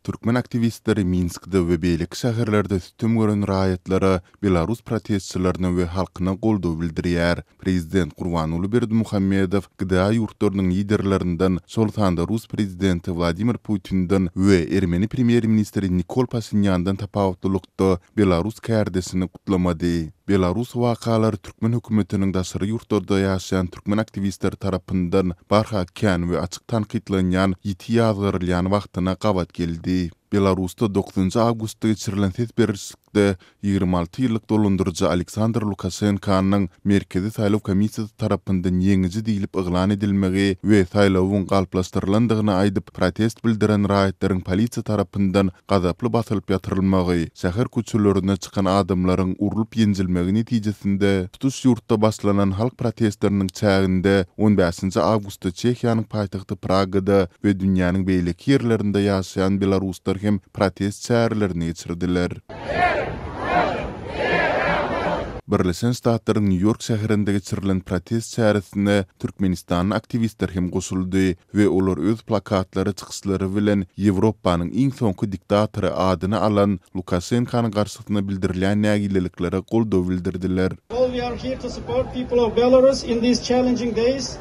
Türkmen aktiwistleri Minskde we beýleki şäherlerde sütem gören raýatlara, belarus protestçilerine we halkyna goldaw bildirýär. Prezident Gurbanguly Berdimuhamedow GDA ýurtlarynyň liderlerinden, şol sanda rus prezidenti Wladimir Putinden we ermeni premýer-ministri Nikol Paşinýandan tapawutlylyk, ýurtda belarus kärdesini gutlamady. Belarus wakalary türkmen hökümetiniň daşary ýurtlarda ýaşaýan türkmen aktiwistleri tarapyndan barha kän we açyk tankytlanýan ýiti ýazgarylýan wagtyna gabat geldi. Belarusda dokuzynjy awgustda geçirilen ses berişlikde ýigrimi alty ýyllyk dolandyryjy Aleksandr Lukaşenkanyň Merkezi saýlaw komissiýasy tarapyndan ýeňiji diýlip yglan edilmegi we saýlawyň galplaşdyrylandygyny aýdyp protest bildiren raýatlaryň polisiýa tarapyndan gazaply basylyp ýatyrylmagy, şäher köçelerine çykan adamlaryň urlup-ýenjilmegi netijesinde tutuş ýurtda başlanan halk protestleriniň çäginde on bäşinji awgustda Çehiýanyň paýtagty Pragada we dünýäniň beýleki ýerlerinde ýaşaýan belaruslar hem protest çärelerini geçirdiler. Birleşen Ştatlaryň Nýu-Ýork şäherinde geçirilen protest çäresine türkmenistanly aktiwistler hem goşuldy. we olar öz plakatlary, çykyşlary bilen Ýewropanyň iň soňky diktatory adyny alan Lukaşenkany garşysyna bildirilýän nägileliklere goldaw bildirdiler. All we are here to support people of Belarus in these challenging days,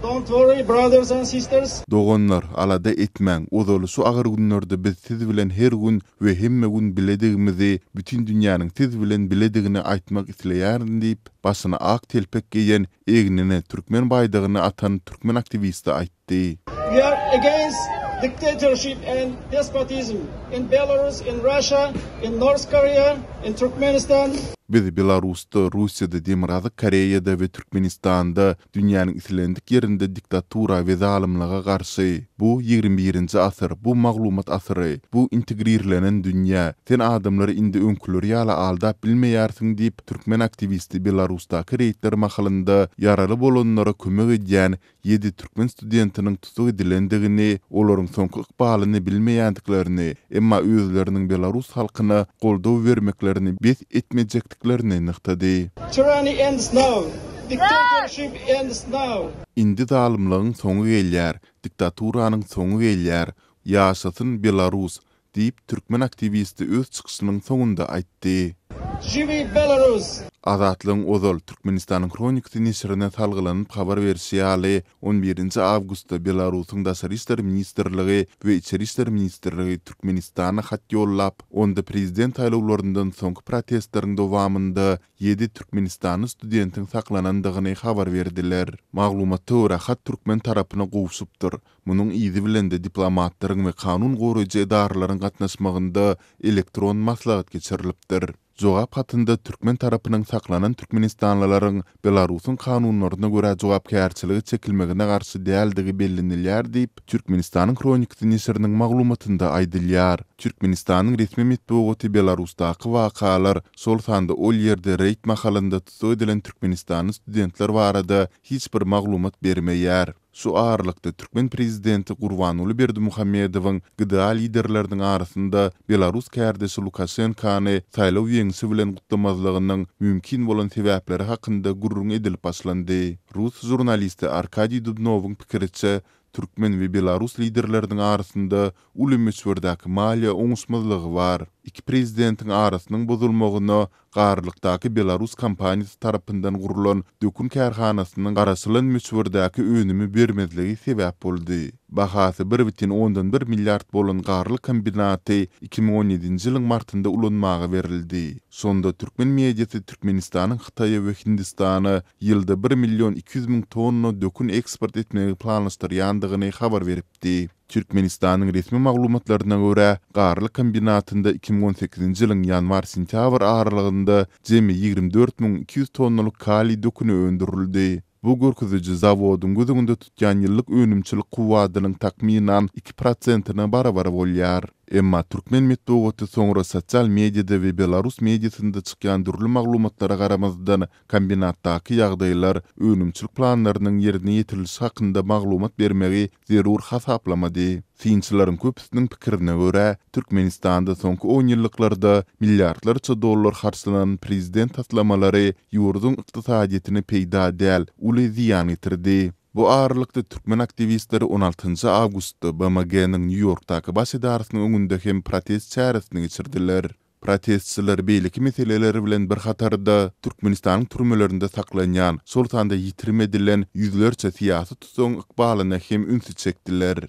don't worry brothers and sisters. Doganlar, alada etmäň, ozaly şu agyr günlerde biz siz bilen her gün we hemme gün biledigimizi, bütin dünýäniň siz bilen biledigini aýtmak isleýärin diýip, başyna ak telpek geýen egnine türkmen baýdagyny atan türkmen aktiwisti aýtdy. We are against dictatorship and despotism in Belarus, in Russia, in North Korea, in Turkmenistan. Biz Belarusda, Russiýada, Demirgazyk Koreýada we Türkmenistanda dünýäniň islendik ýerinde diktatura we zalymlyga garşy. Bu ýigrimi birinji asyr, bu maglumat asyry, bu integrirlenen dünýä. Sen adamlary indi öňküleri ýaly aldap bilmeýärsiň diýip, Türkmen aktiwisti Belarusdaky reýdler mahalynda ýaraly bolanlara kömek edýän ýedi türkmen studentiniň tutuk edilendigini, olaryň soňky ykbalyny bilmeýändiklerini, emma özleriniň belarus halkyna goldaw bermeklerini bes etmejekdiklerini nygtady. Tyranny ends now! Dictatorship ends now! Indi zalymlygyň soňy gelýär, diktaturanyň soňy gelýär! Ýaşasyn Belarus! Diýip, türkmen aktiwisti öz çykyşynyň soňunda aýtdy. Živi Belarus! Azatlygyň ozal, Türkmenistanyň hronikasy neşirine salgylanyp habar berşi ýaly, on birinji awgustda Belarusyň Daşary işler ministrligi we Içeri işler ministrligi Türkmenistana hat ýollap, onda prezident saýlawlaryndan soňky protestleriň dowamynda ýedi türkmenistanly studentiň saklanandygyny habar berdiler. Maglumatda görä, hat türkmen tarapyna gowşupdyr. Munuň yzy bilen-de diplomatlaryň we kanun goraýjy edaralaryň gatnaşmagynda elektron maslahat geçirilipdir. Jogap hatynda türkmen tarapynyň saklanan türkmenistanlylaryň Belarusyň kanunlaryna görä jogapkärçilige çekilmegine garşy däldigi bellenilýär diýip, Türkmenistanyň hronikasy neşiriniň maglumatynda aýdylýar. Türkmenistanyň resmi metbugaty Belarusdaky wakalar, şol sanda ol ýerde reýd mahalynda tussag edilen türkmenistanly studentler barada hiç bir maglumat bermeýär. Şu aralykda, türkmen prezidenti Gurbanguly Berdimuhamedowyň GDA liderleriniň arasynda belarus kärdeşi Lukaşenkany saýlaw ýeňşi bilen gutlamazlygynyň mümkin bolan sebäpleri hakynda gürrüň edilip başlandy. Rus žurnalisti Arkadiý Dubnowyň pikiriçe, türkmen we belarus liderleriniň arasynda uly möçberdäki maliýe oňuşmazlygy bar. Iki prezidentiň arasynyň bozulmagyna Garlykdaky belarus kompaniýasy tarapyndan gurlan dökün kärhanasynyň garaşylan möçberdäki önümi bermezligi sebäp boldy. Bahasy bir bütin ondan bir milliard bolan Garlyk kombinaty iki müň on ýedinji ýylyň martynda ulanmaga berildi. Şonda türkmen mediasy Türkmenistanyň Hytaýa we Hindistana ýylda bir million iki ýüz müň tonna dökün eksport etmegi planlaşdyrýandygyny habar beripdi. Türkmenistanyň resmi maglumatlaryna görä, Garly kombinatynda iki müň on sekizinji ýylyň ýanwar-sentýabr aralygynda jemi ýigrimi dört müň iki ýüz tonnalyk kaliý döküni öndürildi. Bu görkeziji zawodyň göz öňünde tutýan ýyllyk önümçilik kuwwadynyň takmynan iki prosentine barabar bolýar. Emma türkmen metbugaty soňra sosial mediada we belarus mediasynda çykýan dürli maglumatlara garamazdan, kombinatdaky ýagdaýlar, önümçilik planlarynyň ýerine ýetirilişi hakynda maglumat bermegi zerur hasaplamady. Synçylaryň köpüsiniň pikirine görä, Türkmenistanda soňky onýyllyklarda milliardlarça dollar harçlanan prezident taslamalary ýurduň ykdysadyýetine peýda däl, uly zyýan getirdi. Bu aralykda, türkmen aktiwistleri on altynjy awgustda BMG-niň Nýu-Ýorkdaky baş edarasynyň öňünde hem protest çäresini geçirdiler. Protestçiler beýleki meseleler bilen bir hatarda, Türkmenistanyň türmelerinde saklanýan, şol sanda ýitirim edilen ýüzlerçe syýasy tusagyň ykbalyna hem ünsi çekdiler.